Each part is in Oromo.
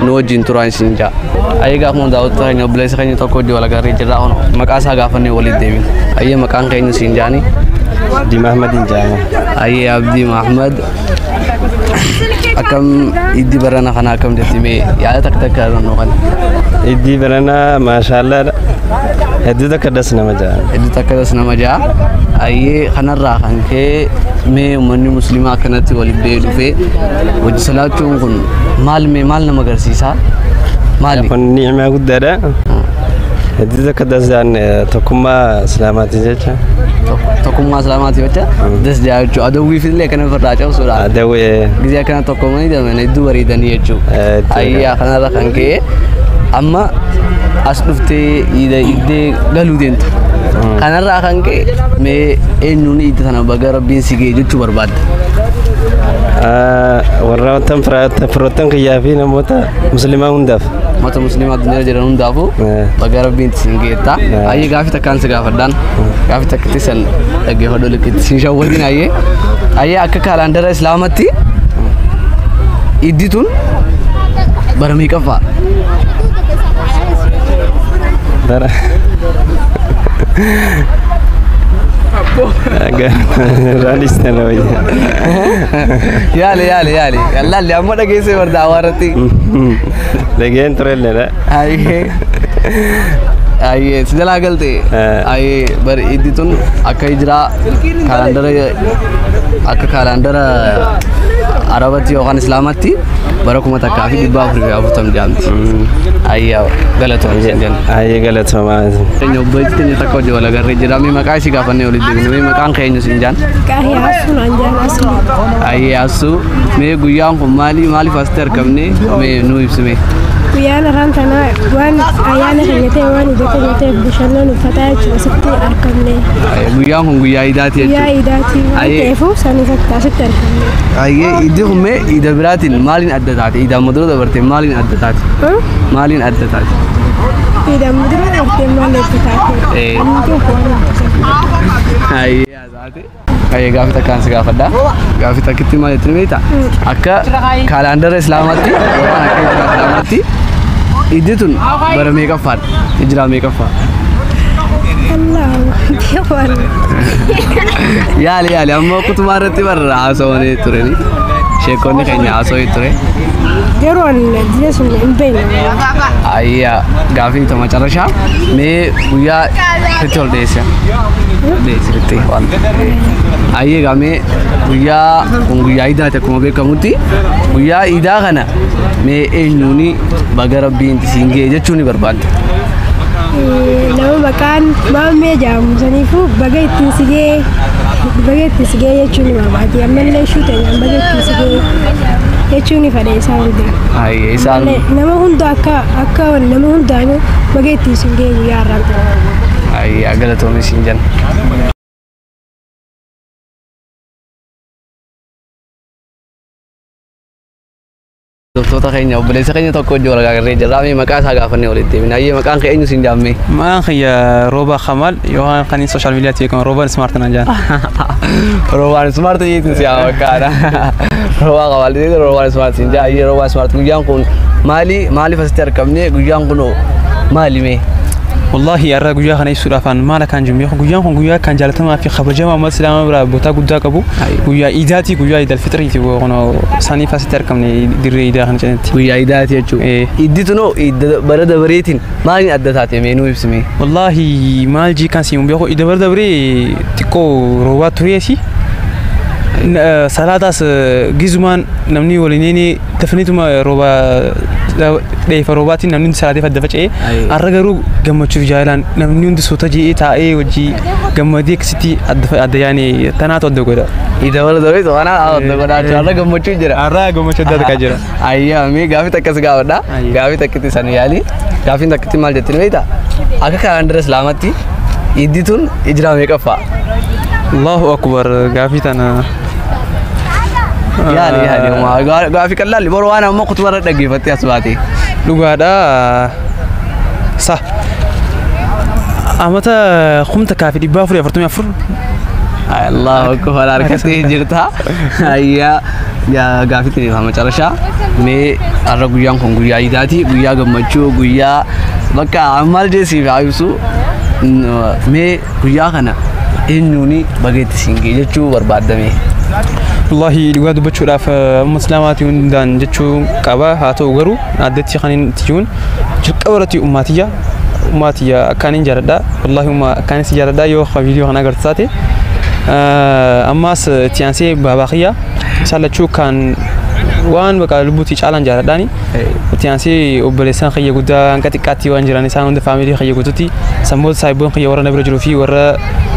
nu wajjin turaa isin jaa. Ayyee gaafuma daawwattoota keenya obboleessa keenya tokko hojii wal agarree jirra kun maqaa isaa gaafannee waliin deebina. Ayyee maqaan keenya siin jaani. Abdii Mahmadiin jaama. Ayyee Abdii Mahmad akkam iddi barana kana akkam jirti mee yaada takka takka irra nu kana. Iddii baranaa maashaallaadha. Hedduu takka das nama ja'a. Hedduu takka das nama ja'a. Ayyee kanarraa kan ka'e mee uummanni musliimaa akkanatti waliif ba'ee dhufee hojii salaatu Kun kun maal mee maal nama agarsiisaa? Maali? kun ni'imaa guddaadha hedduu takka dasaan tokkummaa islaamaati jecha Tokko- Tokkummaa islaamaati jecha das jaachuu adawwiif illee akkana ofirraa cabsuudha. dawee Gizee akkana tokkoomanii deeman hedduu bareedanii jechuudha. Eh, jechuudha. Ayyaa kanarra kan ka'e amma as dhuftee iida iddee galuu deemtu. Kanarraa kan ka'e mee eenyuun iidda sana baga rabbiin si ga'e jechuu barbaada. warra wantan firoottan kiyyaa fi namoota muslimaa hundaaf. Mata muslimaa addunyaa jiran hundaafuu baga rabbiin isin geettaa. Ayyee gaafii takkaan si gaafadhaan. Gaafii takkatti san dhaggeeffadhu liqitti sin shawwadin ayyee. Ayyee akka kaalaandara islaamatti iddi tun bara meeqaffaa? Bara. Raanis sana wayya. Yaali yaali yaali. Yallaalli amma dhageessee bardaa hawaarratti. Dhageen turelleedha. Ayyee. Ayyee si jalaa galte. Eh. Ayyee bari iddi tun akka hijiraa kaalaandara akka kaalaandara arabatti yookaan islaamatti bara kuma takkaa fi dhibba afurii fi afurtam jaamti. Ayyaa galatoom isin jenna. Ayyee galatoomaa. Keenya obbo Ejjiteenyi takka hojii walagarree jiraamii maqaa ishii gaafannee olii Mee maqaan keenya siin jaan? Qaahiyaasuun anjaan asli. Ayyaasuu mee guyyaan kun maali maaliif asitti argamne mee nuu ibsime. Guyyaan afaan tanaa waan ayyaana keenya ta'e waan ija keenya ta'eef bashannaan uffataa jechuudha asitti argamne. Guyyaan kun guyyaa idaati Guyyaa jechuudha. idaatii waan Ayee. ta'eefuu san irratti asitti argamne. Ayyee iddi kun mee ida biraatiin maaliin adda taate? Idaan madura dabarte maaliin adda taate? Maaliin adda taate? Idaan mudura artee maal eebbataati? Baay'ee gaaffii takkaan si gaafadha. Gaaffii takkitti maal jettiin beekta? Akka kaalaandara Islaamaatti yookaan akka hijira Islaamaatti iddi tun bara meeqaffaadha? Hijira meeqaffaa? Yaali yaali amma kutumaa irratti barra haasawanii turani. Sheekonni keenya haasawee ture. Yeroo an jireenya sun hin beekne. Ayyaa gaaffii tuma carrashaa mee guyyaa itti ol dheessa. Dheessatti waan. Ayyee gamee guyyaa kun guyyaa idaati akkuma beekamutti guyyaa idaa kana mee eenyuuni baga rabbiin isiin ga'e jechuu ni barbaadda. nama maqaan maammee jedhamu saniifuu baga ittiin sigee baga ittiin sigee jechuun ni barbaadi ammallee ishuu ta'e baga ittiin sigee jechuun ni fedha isaan hundaa. Isaan nama hunda akka akka nama hundaanuu baga ittiin siin ga'e guyyaa har'aan. galatoomi siin jenna. Doktoota keenya obboleessa keenya tokko hojii wal gargaarree jirra. Mee maqaa isaa gaafannee walitti deebina. Ayyee maqaan kee eenyu siin jaammee? Maqaan kiyya Rooba Kamal yookaan kan inni sooshaal miidiyaatti beekamu Rooban Ismaart naan jedhama. Roobaan ismaartii jeetiin siyaa fakkaata. Rowaa qabaatee rowaa ismaart hin jaa ayyee rowaa ismaart guyyaan kun maali maaliif asitti argamne guyyaan kun maali mee. Wallaahi har'a guyyaa kana ibsuudhaaf an maal akkaan jiru beeku guyyaan kun guyyaa akkaan jaalatamaa fi kabajamaa uummata islaamaa biraa bootaa guddaa qabu guyyaa iidaatii guyyaa iidal fixiriiti kun isaaniif asitti argamne dirree iidaa kana cinatti. Guyyaa iidaati jechuudha. Ee. Iiddi tunoo iidda bara dabareetiin maaliin adda taate mee nuu ibsi mee. Wallaahi maal jii kan siin beeku iida bara dabree xiqqoo roobaa tureesi salaataas gizumaan namni waliin dafaniituma rooba dheefa roobaatiin namni hundi salaatee fadda faca'ee har'a garuu gammachuuf jaalaan namni hundi suuta ji'ee taa'ee wajjii gammadee akkasitti adda yaane tanaatu adda godha. Ida wala dawai to ana a da gwada to Allah gammachu jira. Har'a gammachuu adda addaa jira. Ayyaa mee gaafii takka si gaafadha. Ayya. Gaafii takkitti san yaali. Gaafiin takkitti maal jettiin beekta? Akka kalaandara Islaamatti iddi tun ijraa meeqaffaa? Allahu akbar gaafii tana. Yaali yaali homaa. Gaa- Gaafii qal'aalli boroo waan ammoo kutuba irra dhaggeeffattee as baate. Dhugaadha. Sa. Amata kumta kaafi dhibbaa afurii afurtamii afur. Allahu akbar harkattee jirta. Ayyaa. Gaa- gaafii itti deebi'aa macarashaa mee har'a guyyaan kun guyyaa iidaati guyyaa gammachuu guyyaa bakka maal jeesiif haa ibsu Mm, mee guyyaa kana eenyuuni bageetti siin ga'e jechuu barbaaddame Wallahi dhugaa dubbachuudhaaf eh, amma islaamaatii hundaan jechuu qaba haa ta'u garuu addatti kan inni itti jiruun jalqaba irratti ummaatiyya Ummaa tiyya akkaaniin jaaladha. Wallaahi ummaa akkaaniin si jaaladha yoo kan viidiyoo kana agartu taate. Ammaas itti aansee baabaa kiyya isaan lachuu kan waan baqa lubbuutti caalaan jaaladhaani. Itti aansee obboleessaan kiyya guddaa hanga xiqqaatti waan jiran isaan hunda faamilii kiyya guututti sammoota saayibboon kiyya warra na bira jiruu fi warra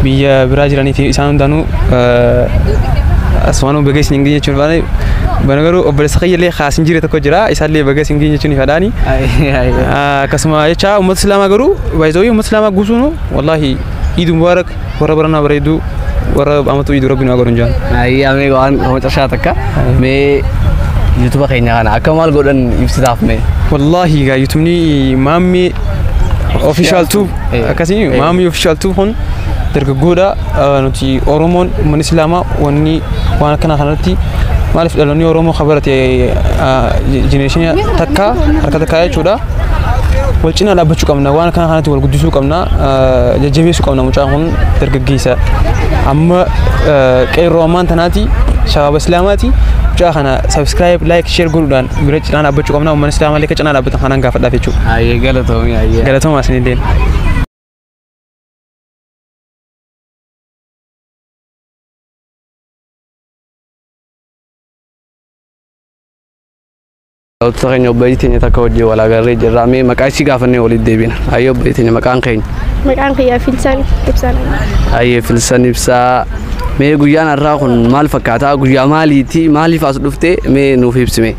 biyya biraa jiranii fi isaan hundaanuu asumaanuu baga isin geenye jechuun faana bana garuu obboleessa kiyya illee kaas hin jire tokko jira isaan illee baga isin geenye jechuun fadhaani. Akkasuma jecha uummata islaamaa garuu baay'ee uummata islaamaa guutuun wallaahi iid mubaarak warra baranaa bareedduu warra amatuu iiduu rabbi nu agarun jaan. Ayi amee waan homa cashaa takka mee yuutuba keenya kana akka maal godhan ibsitaaf mee. Wallaahi gaa yuutumni maammee official tube Eh. akkasii maammee official tube kun dargaggoodha nuti Oromoon ummanni Islaamaa wanni waan akkanaa kanarratti maaliif dhaloonni Oromoo kan barate jenereeshinii takka harka takkaa jechuudha. Wal cinaa dhaabbachuu qabna waan akkanaa kanatti wal guddisuu qabna jajjabeessuu qabna mucaan kun dargaggeessa amma qeerroo ammaan tanaati shabaaba Islaamaati mucaa kana subscribe like share godhuudhaan bira cinaa dhaabbachuu qabna ummanni Islaamaa illee akka cinaa dhaabbatan kanaan gaafadhaaf jechuudha. Ayyee galatoomii ayyee. Galatoomaa isinillee. Daawwattoota keenya obboleettii teenya takka wajjin wal agarree jirra. Mee maqaa isii gaafannee walitti deebina. Hayyee obboleettii teenya maqaan keenya. Maqaan kiyyaa Filsaan Ibsaan. Hayyee Filsaan Ibsaa. Mee guyyaan har'aa kun maal fakkaata? Guyyaa maaliiti? Maaliif as dhufte? Mee nuuf ibsime.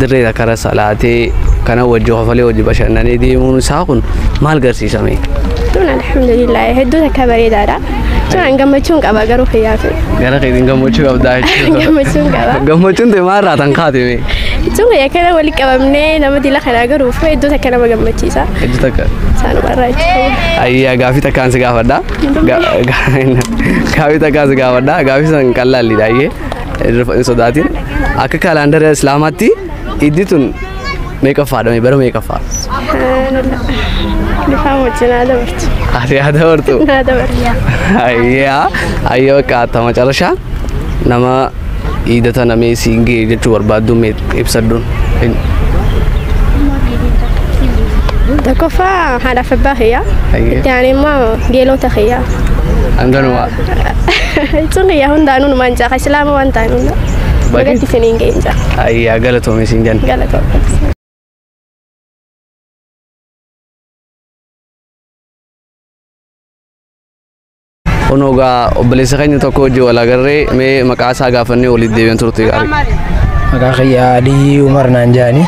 dirree takkarra salaatee kana wajji kofalee wajji bashannanee deemuun isaa kun maal garsiisame? Tun alhamdulillah hedduu takka bareedaadha. Tun an gammachuun qaba garuu fayyaa ta'e. Gara keetiin gammachuu qabdaa jechuudha. Gammachuun qaba. Gammachuun ta'e maal irraa tan kaate mee? Tun fayyaa kana walitti qabamnee nama dila kanaa garuu fi hedduu takka nama gammachiisa. Hedduu takka. Saanuma irraa jechuudha. Ayyaa gaafii takkaan si gaafadha. Ga- ga- Gaafii takkaan si gaafadha. Gaafii san qallalliidha ayyee. hin sodaatin akka kaalaandara islaamaatti iddi tun meeqaffaadha bara meeqaffaa Lifaan wajjin haa dabartu. ati haa dabartu Haa dabartu. ayyaa ayyaa qaata macarashaa nama iida tana mee siin ga'e jechuu barbaaddu mee ibsadhuun hin Tokkoffaa haadhaaf abbaa kiyyaa. Hayyee. Itti aanee immoo geelota kiyyaa. hanganuma Jechuun kiyyaa hundaanuu numaan jaaka islaama waan ta'an hunda. Baay'ee. Bagatti isiniin ga'een jira. ayyaa galatoomi siin jenna. Galatoomaa. Kunoo gaa obboleessa keenya tokko hojii wal agarree mee maqaa isaa gaafannee walitti deebi'an turte gaarii. Maqaa kiyya Aliyyii Umar naan jedhani.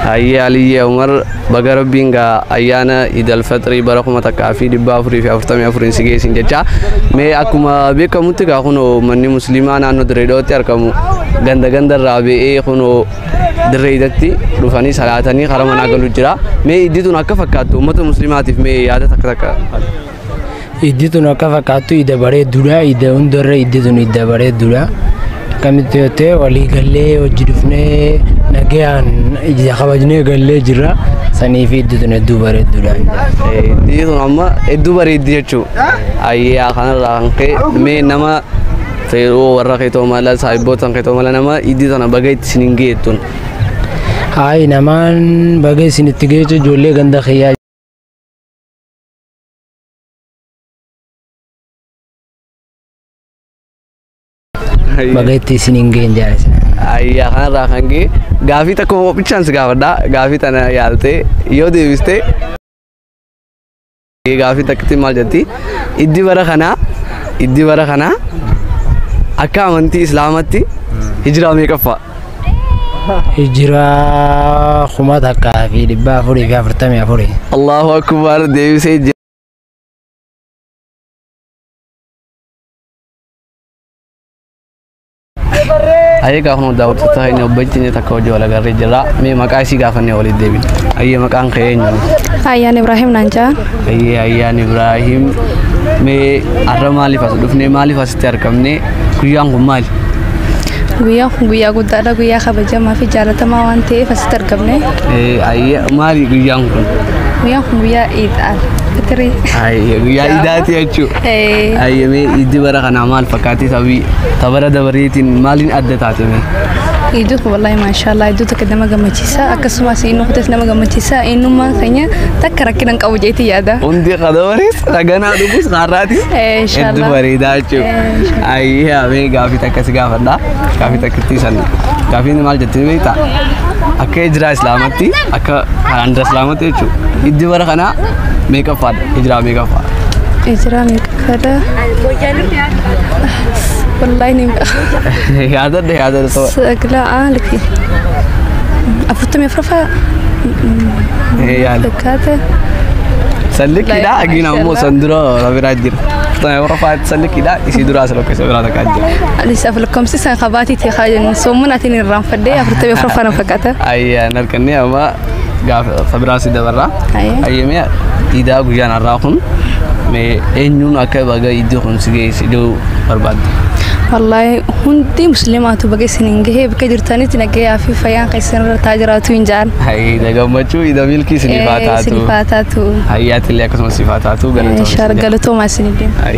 Hayyee Aliyyee Umar baga rabbiin gaa ayyaana Idal Faxirii bara kuma takkaa fi dhibba afurii fi afurtamii afuriin si geessin jecha mee akkuma beekamutti gaa kunoo manni musliimaa naannoo Dirreedootti argamu ganda ganda irraa ba'ee kunoo Dirreedatti dhufanii salaatanii karaa manaa galu jira mee iddi tun akka fakkaattu uummata musliimaatiif mee yaada takka takka. Iddi tun akka fakkaattu idda bareedduudha. Idda hundarra iddi tun idda bareedduudha. Akkamitti yoo ta'e walii gallee hojii dhufnee nagayaan ija kabajnee gallee jirra. Saniif iddi tun hedduu bareedduudha. Iddi tun amma hedduu bareeddi jechuudha. Ayyaa kanarraa kan ka'e mee nama feeroo warra keetoo mala saayibboota keetoo mala nama iddi tana baga itti isin hin geettun. Hayi namaan baga isin itti geechu ijoollee ganda kiyyaa Baga itti isin hin geenye jaalisa. Ayyaa kanarraa kan ga'e gaafii takka qophichaanis gaafadha. Gaafii tana yaaltee yoo deebiste gaafii takkatti maal jetti? Iddi bara kanaa iddi bara kanaa akka amantii islaamatti hijiraa meeqaffaa? hijira kuma takkaa fi dhibba afurii fi afurtamii afurii. Allahu akbar deebisee jira. Ayyee gaafuma daawwattoota inni obboleettiin takka hojii wal agarree jira. Mee maqaa isii gaafannee walitti deebina. Ayyee maqaan kee eenyu? Ayyaan Ibrahim naan jedhan. Ayyee Ayyaan Ibrahim. Mee har'a maaliif as dhufnee maaliif asitti argamnee guyyaan kun maali? Guyyaa kun guyyaa guddaadha. Guyyaa kabajamaa fi jaalatamaa waan ta'eef asitti argamne. Maali guyyaan kun? Guyyaan kun guyyaa iidhaan fitirii. Guyyaa iidaati jechuudha. Ayyamee iiddi bara kanaa maal fakkaatee sabii tabara dabareetiin maaliin adda taate mee? Iddoo kun wallaahi maashaallah iddoo tokko nama gammachiisa akkasumas inni kutas nama gammachiisa eenyummaan keenya takka rakkina hin qabu jeetii yaada. Hundi qadabarees raganaa dhugus har'aatis hedduu bareedaa jechuudha. Ayyaa mee gaafii Akka si gaafadha gaafii takkittii san gaafiin maal jettee beekta akka hijiraa islaamatti akka kanaan dura islaamatti jechuudha hijji bara kanaa meeqaffaadha hijiraa meeqaffaa Ijira meeqaffaadha? Wallaahi ni beeku. yaadadha yaadadha ta'u Sagla aalfi. Afurtamii afuraffaa yaada fakkaata. san likkiidha agiin ammoo san dura rabiraa jira. Furtamee warra faati. Sallikidha isii duraa salokkeessa biraa takka ajja. Anis aflakkomsi san kabaatii ta'e kaayanii soomun atiin irraan faddee afurtamii afur fana fakkaata. Ayyaa narkannee amma gaafa kabiraa si dabarraa. Ayya. Ayyamee idaa guyyaan har'aa kun mee eenyuun akka baga iddoo kun si geesse iddoo barbaadde. Wallaahi hundi musliimaatu baga isin hin gahee bakka jirtanitti nagayaa fi fayyaan keessan irra taa jiraatu hin ja'an. Ayyaa gammachuu idaa milkii isiniif haa taatu. Isiniif haa taatu. Ayyaatilee akkasumas siif haa taatu galatoomi. Shaar galatoomaa isiniif deema.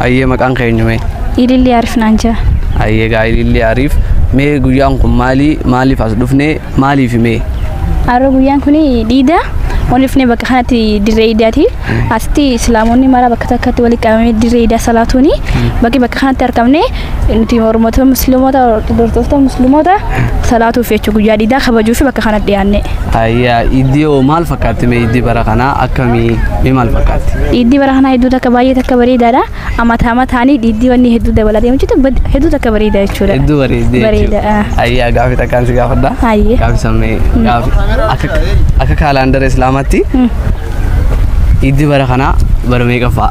Ayyee maqaan kee eenyu mee? Ilillii Arif naan jaa. Ayyee gaa ilillii Arif mee guyyaan kun maali maaliif as dhufne maaliif mee? Har'a guyyaan kun dhiida olifne bakka kanatti dirree idaati. Asitti islaamonni mara bakka takkatti walitti qabamee dirree idaa salaatuuni bakki bakka kanatti argamne nuti mormota musliimota hordoftoota musliimota salaatuuf jecha guyyaa diidaa kabajuuf bakka kana dhiyaanne. Ayyaa iddii hoo maal fakkaatti mee iddii bara kanaa akkamii mee maal fakkaatti? Dhiiddii bara kanaa hedduu takka baay'ee takka bareedaadha. Amataa amataanii dhiiddii wanni hedduu dabalaa deemu jechuudha. Bad- Hedduu takka bareeda jechuudha. Hedduu bareedee Bareeda. jechuudha. Ayyaa gaafii takkaan si gaafadha. Hayyee. Gaafii sammee gaafii akka akka kaalaandara islaamaatti iddii bara kanaa bara meeqaffaa?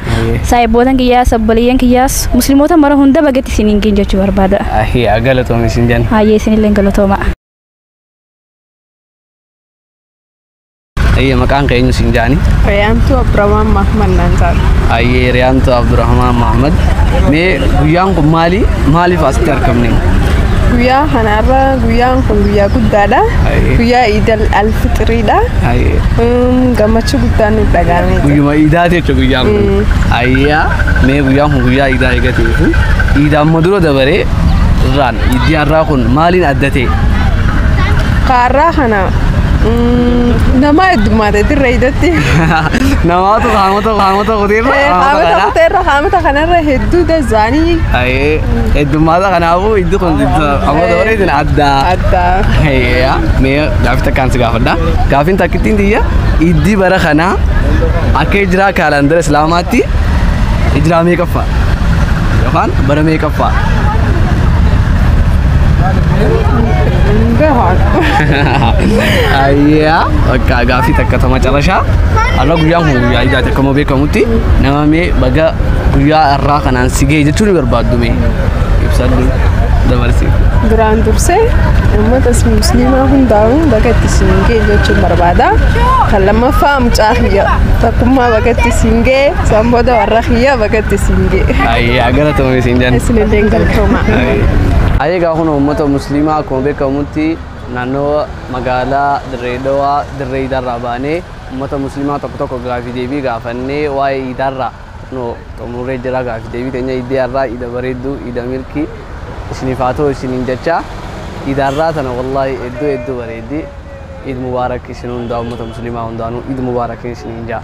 saahibootan kiyyaas obboleeyyan kiyyaas muslimoota mara hunda bagetti isin hin geenye jechuu barbaada. Ahiyaa galatoomi isin jenna. Hayyee isinillee galatooma. Ayyee maqaan keenyu isin jaani. Riyaantuu Abdurrahmaan Mahmad naan taatu. Ayyee Riyaantuu Abdurrahmaan Mahmad. Mee guyyaan kun maali? Maaliif asitti argamne? Guyyaa kanarra guyyaan kun guyyaa guddaadha. Ayyee. Guyyaa Iidal Alfixiriidha. Ayyee. Gammachuu guddaan nu dhagaame. Guyyuma iidaati Guyyaan kun ayyaa mee guyyaan kun guyyaa iidaa eegateefu iidaa amma dura dabaree irraan iiddii har'aa kun maaliin adda ta'e? Kaarraa kana nama heddummaate dirree iidatti. Namaatu qaamota qaamota kuteerra Qaamota kuteerra qaamota kanarra hedduu dazaanii. Ayee heddummaata kanaafuu iiddi kun amma dabaree isin addaa. Addaa. Ayyaa mee gaafii takkaan si gaafadha. Gaafiin takkittiin tiyya iiddii bara kanaa Akka hijiraa kaalaandara Islaamaatti hijiraa meeqaffaa yookaan bara meeqaffaa? Ayyaa bakka gaaffii takka ta macarashaa har'a guyyaan kun guyyaa ijaati akkuma beekamutti nama mee baga guyyaa har'aa kanaan si ga'e jechuun ni barbaaddu mee ibsadhu dabarsi. Duraan dursee uummata musliimaa hundaa'uun baga itti siin ga'e jechuun barbaada. barbaada. Kan lammaffaa mucaa kiyya takkummaa bagatti siin ga'e san booda warra kiyya bagatti siin ga'e. Ayyaa galatoomi siin jenna. Isinillee galtooma. Ayee egaa kun uummata musliimaa akkuma beekamutti naannoo magaalaa Dirree Dhawaa Dirree Iidaarraa baanee uummata musliimaa tokko tokko gaafii deebii gaafannee waa'ee Iidaarraa Kunoo xumurree jira gaafi deebii teenya iidii har'aa iida bareedduu iida milkii isiniif haa ta'u isiniin jechaa iida har'aa tana wallaahi hedduu hedduu bareeddi iid mubaarak isin hundaa ummata musliimaa hundaanuu iid mubaarakin isiniin jaa.